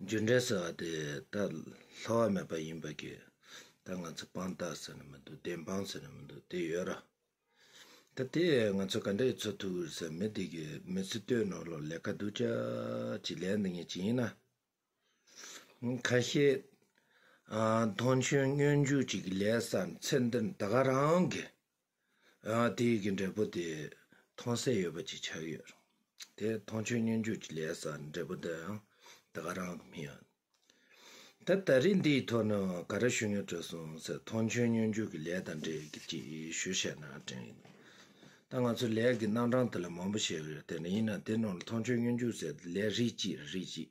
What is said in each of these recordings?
རྒྱུ་འབྲས་ཟེར་བ་དེ་ད་ལྷག་བ་མེད་པ་ཡིན་པ་གི་ད་ང་ཚོ་དཔང་རྟགས་ཟེར་ནི་མི་འདུག་བདེན་དཔང་ཟེར་ནི་མི་འདུག་དེ་ཡོད་ར། ད་དེ་ང་ཚོ་ག་འདྲའི་ཚོད་ཐུག་ཟེར་ན་མི་དེ་གི་མི་ཚེ་སྟོད་ནོར་ལོག་ལས་ཀ་སྡུག་ཅག་ཅིག་ལས་འདི་གཉིས་ཅི་ཡིན་ན། ཁ་ཤས་མཐོང་ཆུང་སྙོན་འཇུག་ཅིག་གི་ལས་བསམ་ཚེ་འདིར་ད་ག་རང་གི། དེ་ཡི་གེ་འབྲས་བུ་དེ་མཐོང་གསལ་ཡོད་པ་ཅིག་ཆགས་ཡོད་རུང། དེ་མཐོང་ཆོས་སྙོན་འཇུག་གི་ལས་སམ་འབྲས་བུ་འདི་ཡང་དེ་ག་རང་གི་མིན་ཡང། ད་ལྟ་རིགས་འདིའི་ཐོག་ནས་ག་རེ་ཞུ་མྱོང་དྲིས་སོང་ཟེར་མཐོང་ཆོས་སྙོན་འཇུག་གི་ལས་དང་འབྲེལ་གྱི་ཅིག་ཞུ་བྱས་ན་དྲན་གྱི་འདུག་ད་ང་ཚོས་ལས་ཀྱི་རྣམ་གྲངས་དེ་ལ་མང་པོ་བཤད་ཀྱི་རེད་དེ་འདྲ་ཡིན་ན་དེ་ནང་ལ་མཐོང་ཆོས་སྙོན་འཇུག་ཟེར་དུས་ལས་རིགས་གཅིག་རེད་རིགས་གཅིག་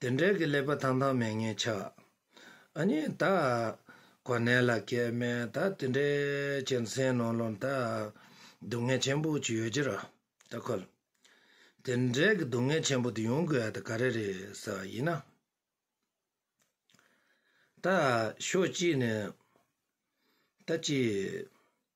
དེ་འབྲེལ་གྱི་ལེགས་པ་དང་དང་མེད་ངེས་ཆགས། ཨ་མྱེས་ད། གོ་གནས་ལ་སྐལ་མེད་ད་དེ་འདྲའི་གཅན་གཟན་ནོ་ལོ་ད། སྡུག་བསྔལ་ཆེན་པོ་གཅིག་ཡོད་ཀྱི་ར་ད་ཁོ། དེ་འབྲེལ་གྱི་སྡུག་བསྔལ་ཆེན་པོ་དེ་ཡོང་དགོས་ཨ་ད་ག་རེ་རེད་ས་ཡིན་ན། ད། ཕྱོགས་གཅིག་ནས། ད་ཅི།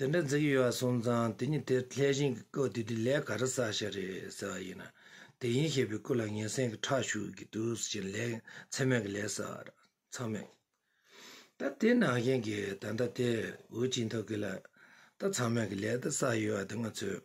དེ་འདྲ་འཛིན་གྱི་ཡོད་སོང་ཙང་དེ་ཉིད་དེར་སླད་ཕྱིན་གྱི་སྐབས་དེ་དུས་ལས་ག་རེ་བསགས་ཤ་རེད་ཟེར་བ་ཡིན་ན། དེ་ཡིན་ཞེས་པའི་སྐུ་ལ་ངན་སེམས་ཀྱི་ཁྲག་ཞུགས་ཀྱི་འདུག་ཟེར་ཞིང་ལས་མཚན་མོད་ཀྱི་ལས་བསགས་ར་ཚང་མེད། ད་དེ་ནང་བཞིན་གྱི་ད་ལྟ་དེ་འུར་ཅིང་ཐོག་གི་ལ་ད་ཚང་མེད་ཀྱི་ལས་ད་བསགས་ཡོད་དེ་ང་ཚོས།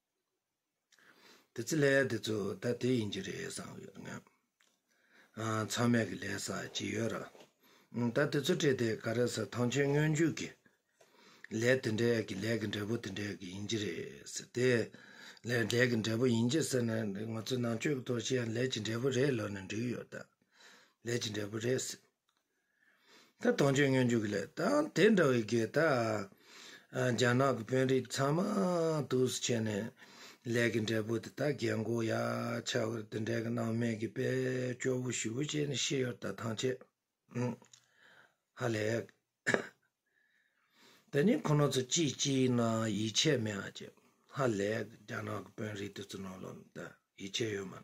དེ་ཚེ་ལྷའི་དེ་ཚོ་ད་དེ་ཡིན་གྱི་རེད་བསམ་ཡོད་ང། ཚང་མས་གི་ལས་ས་ཅི་ཡོད་ར། ད་དེ་ཚོ་བཀྲེས་ཏེ་ག་རེ་ས་ཐང་ཆེན་སྔོན་འཇུག་གི། ལས་དེ་འདྲས་གི་ལས་གི་འབྲས་བུ་དེ་འདྲས་གི་ཡིན་གྱི་རེད་ཟེར་ཏེ། ལས་འདྲས་གི་འབྲས་བུ་ཡིན་གྱི་ཟེར་ན་ང་ཚོ་ནང་ཆོས་གི་ཐོག་ཤེས་ཡ་ལས་ཀྱི་འབྲས་བུ་རེད་ལབ་ནས་འགྲིག་ཡོད་ད། ལས་ཀྱི་འབྲས་བུ་རེད་ཟེར། ད་དུང་ཆོས་ཉོན་རྒྱུགས་ཀྱི་ལས་དང་དེ་འདྲ་བའི་གེ་ད་རྒྱ་ནག་གི་དཔོན་རིགས་ཚང་མ་ཐུགས་སུ་ཆེ་ནས་ལས་ཀྱི་འབྲས་བུ་དེ་དག་རྒྱལ་མགོ་ཡ་ཆ་བར་དེ་འདྲའི་གི་སྣང་མེད་ཀྱི་དཔེ་སྐྱོ་བོ་ཞུ་བོ་བྱས་ནས་ཤི་ཡོད་ད་ཐང་ཆད་ཨང། ཧ་ལས། དེ་ནས་ཁོ་ནོ་ཚོ་ཅིག་ཅིག་ན་ཡིད་ཆད་མེད་ཨ་ཅེ། ཧ་ལས། རྒྱ་ནག་གི་དཔོན་རིགས་དེ་ཚོ་ནོ་ལོ་ད་ཡིད་ཆད་ཡོད་མ།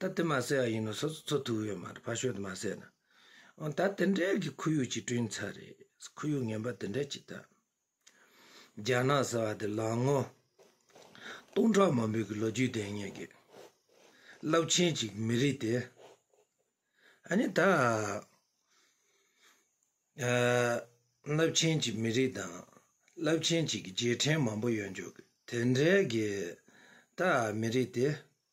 ད་དེ་མ་བསལ་བ་ཡིན་ནོ་སོ་སོ་ཚོ་ཐུག་ཡོད་མ་རེད་ཕ་ཤོད་དུ་མ་བསལ་ན་འོང་ད་དེ་འདྲའི་གི་ཁུ་ཡུག་ཅིག་བསྐྲུན་ཚར་རེད་ཁུ་ཡུག་ངན་པ་དེ་འདྲ་ཅིག་ད། རྒྱ་ནག་ཟེར་བ་དེ་ལོ་ངོ་སྟོང་ཕྲག་མང་པོའི་གི་ལོ་རྒྱུས་ལྡན་ངེས་གི་རླབས་ཆེན་གྱི་གི་མི་རིགས་དེ་ཨ་ནི་ད་རླབས་ཆེན་གྱི་མི་རིགས་དང་རླབས་ཆེན་གྱི་གི་རྗེས་དྲན་མང་པོ་ཡོད་འཇོག་གི་དེ་འདྲའི་གི་ད་མི་རིགས་དེ་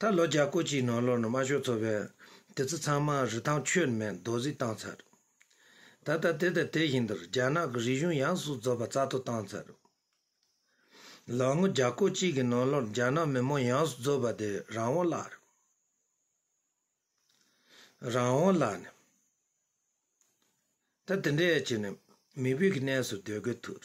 ད་ལོ་རྒྱ་སྐོར་གྱི་ནང་ལོགས་ནས་དམར་ཤོག་ཚོགས་པའི་དེ་ཚོ་ཚང་མ་རི་ཐང་ཆོད་མེད་རྡོ་བཟི་བཏང་ཚར། ད་ལྟ་དེ་ལྟ་དེ་བཞིན་དུ་རྒྱ་ནག་གི་རིག་གཞུང་ཡང་སུ་རྫོགས་པ་རྩ་གཏོར་བཏང་ཚར། ལོ་ངོ་བརྒྱ་སྐོར་གཅིག་གི་ནང་ལོགས་རྒྱ་ནག་མི་མང་ཡང་སུ་རྫོགས་པ་དེ་རང་དབང་ལགས། རང་དབང་ལགས་ནས། ད་དེ་འདྲས་ཀྱི་ནས་མི་བུ་གི་གནས་སུ་སྡོད་དགོས་ཐུག།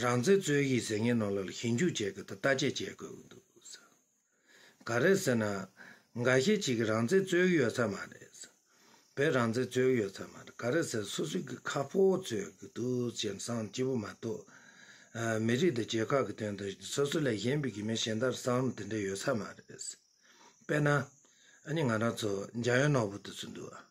རང་བཙན་རྩོད་ཡིག་ཟེར་ངེས་ནོར་ལ་ལ་ཞིབ་འཇུག་བྱེད་དགོས་དང་བརྟག་དཔྱད་བྱེད་དགོས་ཀྱི་འདུག་ག་རེད་ཟེར་ན། འགའ་ཤས་ཅིག་གིས་རང་བཙན་རྩོད་ཀྱི་ཡོད་ས་མ་རེད། བོད་རང་བཙན་རྩོད་ཀྱི་ཡོད་ས་མ་རེད་ག་རེད་ཟེར་སུ་སུ་གིས་ཁ་ཕོ་བོ་རྩོད་ཀྱི་འདུག་བྱས་ན་སངས་སྐྱིད་པོ་མ་གཏོགས། མི་རིགས་དང་རྒྱལ་ཁག་གི་དོན་དུ་སོ་སོ་ལས་གཞན་པའི་གི་མི་གཞན་དག་བསམ་བློ་དེ་འདྲ་ཡོད་ས་མ་རེད། དཔེར་ན། ཨ་ནི་ང་རང་ཚོ་འཇའ་ཡོན་ནོར་བུ་དེ་ཚོ་འདུག་ཨ།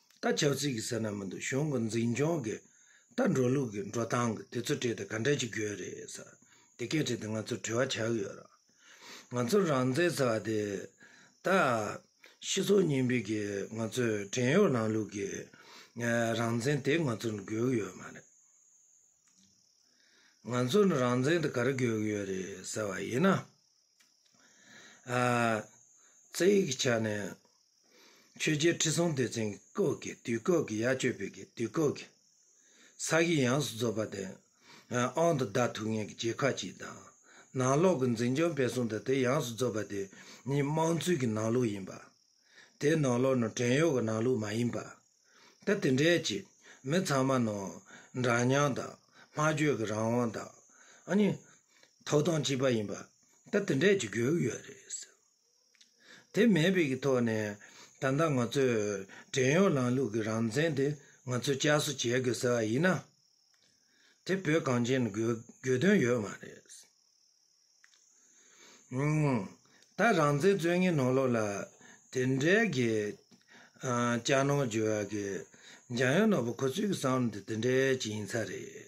ད་ཆབ་སྲིད་ཀྱི་ཟེར་ན་མི་འདུག་གཞུང་གི་འཛིན་སྐྱོང་གི་ད་འགྲོ་ལུགས་ཀྱི་འགྲོ་སྟངས་ཀྱི་དེ་ཚོ་བྲིས་ཏེ་ག་འདྲ་ཅིག་བརྒྱུད་རེད་ས་དེ་སྐད་བྲིས་ཏེ་ང་ཚོར་དྲི་བ་ཆགས་ཡོད་ར་ང་ཚོར་རང་བཙན་ཟེར་བ་དེ་ད་ཤི་སོ་ཉིན་པའི་གི་ང་ཚོས་བྲན་གཡོག་ནང་ལུགས་ཀྱི་རང་བཙན་དེ་ང་ཚོར་དགོས་གི་ཡོད་མ་རེད་ང་ཚོར་ནི་རང་བཙན་དེ་ག་རེ་དགོས་གི་ཡོད་རེད་ཟེར་བ་ཡིན་ན་ཨ་ཙི་ཡི་གི་ཆ་ནས་ཆོས་རྒྱལ་ཁྲི་སྲོང་ལྡེ་བཙན་གྱི་སྐོར་གྱི་དུས་སྐབས་ཀྱི་ཡ་ཆོས་བོད་ཀྱི་དུས་སྐབས་ཀྱི་ས་གཞི་ཡངས་སུ་རྫོགས་པ་དེ། ཨང་དང་བདག་ཐུག་ངན་གྱི་རྗེས་ཁག་ཅིག་དང། ནང་ལོགས་ཀྱི་འཛིན་སྐྱོང་སྤེལ་གསུམ་དང་དེ་ཡངས་སུ་རྫོགས་པ་དེ་ཉིད་དམངས་གཙོའི་གྱི་ནང་ལུགས་ཡིན་པ། དེ་ནང་ལོགས་ནང་བྲན་གཡོག་གི་ནང་ལུགས་མ་ཡིན་པ། ད་དེ་འདྲའི་གྱི་མི་ཚང་མ་ནང་འདྲ་མྱང་དང་སྨྲ་བརྗོད་ཀྱི་རང་དབང་དང། ཐོབ་ཐང་གཅིག་པ་ཡིན་པ། ད་དེ་འདྲའི་གྱི་དགོས་ཀྱི་ཡོད་རེད། དེ་མེད་པའི་ཐོག་ནས་ད་ལྟ་ང་ཚོས་བྲན་གཡོག་ལམ་ལུགས་ཀྱི་རང་བཙན་དེ་ང་ཚོས་བསྐྱར་གསོ་བྱེད་དགོས་ཟེར་བ་ཡིན་ན། དེ་བོད་གངས་ཅན་ལ་དགོས་དོན་ཡོད་མ་རེད། ད་རང་བཙན་རྩོད་ངན་ནོར་ལོག་ལ་དེ་འདྲའི་གི་ལྕགས་ནོར་བརྗོད་བ་གི་འཇམ་དབྱངས་ནོར་བུ་ཁོ་ཚོའི་གི་བསམ་བློ་དེ་དེ་འདྲའི་གཅིག་ཡིན་ས་རེད།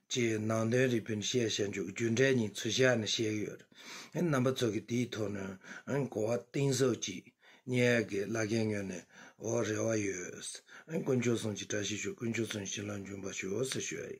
ཅེས་ནང་དོན་རིགས་བུན་བཤད་བཤད་འཇུག་རྒྱུ་འབྲས་གཉིས་ཚུལ་བཞག་ནས་བཤད་ཡོད། རྣམ་པ་ཚོ་གིས་དེའི་ཐོག་ནས་གོ་བ་གཏིང་ཟབ་ཅིག་རྙེད་ཡག་གི་བླ་རྒན་ཉོས་ནས་འོ་རེ་བ་ཡོད། དཀོན་མཆོག་གསུང་གཅིག་བཀྲ་ཤིས་ཤོག་དཀོན་མཆོག་གསུང་གཅིག་ལམ་རྒྱུན་པ་ཤོག་ཟེར་ཞོར།